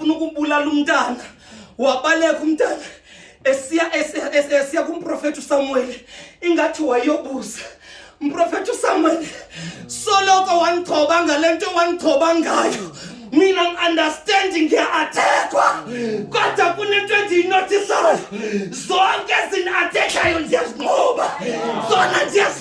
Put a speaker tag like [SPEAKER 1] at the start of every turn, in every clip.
[SPEAKER 1] ufuna ukubulala umntana wabaleka umntana esiya esiya kumprofeti usamuweli ingathi wayobuza mprofeti usamuweli soloko wandithoba ngale nto wandithoba ngayo mina ngi-understandi ngiya-athekwa kodwa kunento endiyinotisayo zonke ezini-athekhayo ndiyazinqoba zona ndiyazi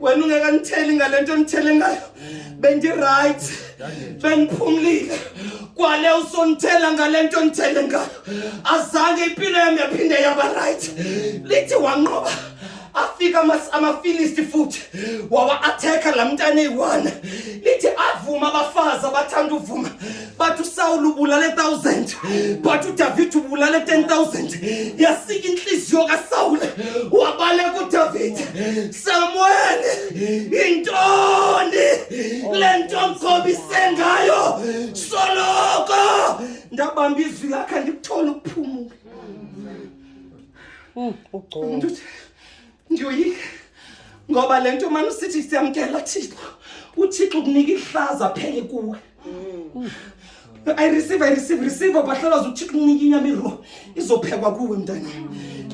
[SPEAKER 2] wena
[SPEAKER 1] ungekanitheli ngale nto ndithele ngayo bendirayithi bendiphumlile kwale usondithela ngale nto ndithele ngayo azange impilo yam yaphinde yaba rayithi lithi wanqoba afika amafilisti futhi wawa-athekha la mntana eyi-one lithi avuma abafazi abathanda uvuma bathi usawula ubulale 1000 bathi udavid ubulale 10000 yasika intliziyo kasawule wabaleka udavid samuel yintoni kule nto mkhobise ngayo soloko ndabamba izwi lakhe ndikuthole ukuphumula hmm,
[SPEAKER 2] umntu uthi
[SPEAKER 1] Ndiyoyika ngoba le nto mani usithi siyamkela Thixo. UThixo ukunika ihlaza phele kuwe. I receive, I receive, receive bahlalaza uThixo ukunika inyama iro izophekwa kuwe mntana.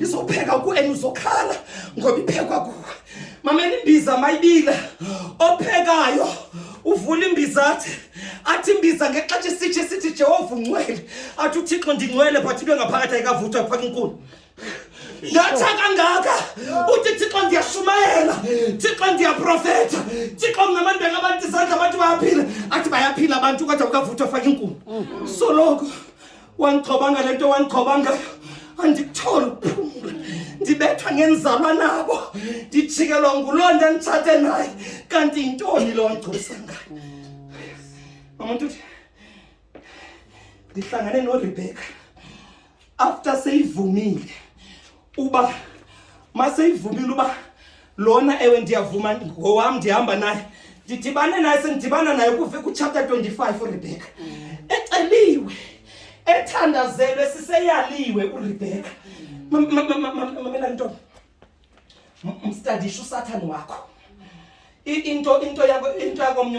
[SPEAKER 1] Izopheka kuwe and uzokhala ngoba iphekwa kuwe. Mama imbiza mayibila ophekayo uvula imbiza athi athi imbiza ngexesha isitshe sithi Jehova ungcwele athi uThixo ndingcwele but into engaphakathi ayikavuthwa kufaka inkulu ndatsha kangaka uthi thixo ndiyashumayela thixo ndiyaprofetha thixo mna abantu bengabantu izandla abantu bayaphila athi bayaphila abantu kodwa kukavuthwa faka inkulu soloko wandichobanga le nto wandichobangayo andikutholi ukuphumula ndibethwa ngenzalwa nabo ndijikelwa nguloo nto nditshate naye kanti yintoni loo ngcusa ngayo mamuntu uthi ndihlangane noRebecca after seyivumile uba maseyivumile uba lona ewe ndiyavuma ngowam ndihamba naye ndidibane naye sendidibana naye kuve kuchapter 25 uRebecca eceliwe ethandazelwe siseyaliwe uRebecca mamela ntombi mstadisha usathane wakho into into yako into yakomnye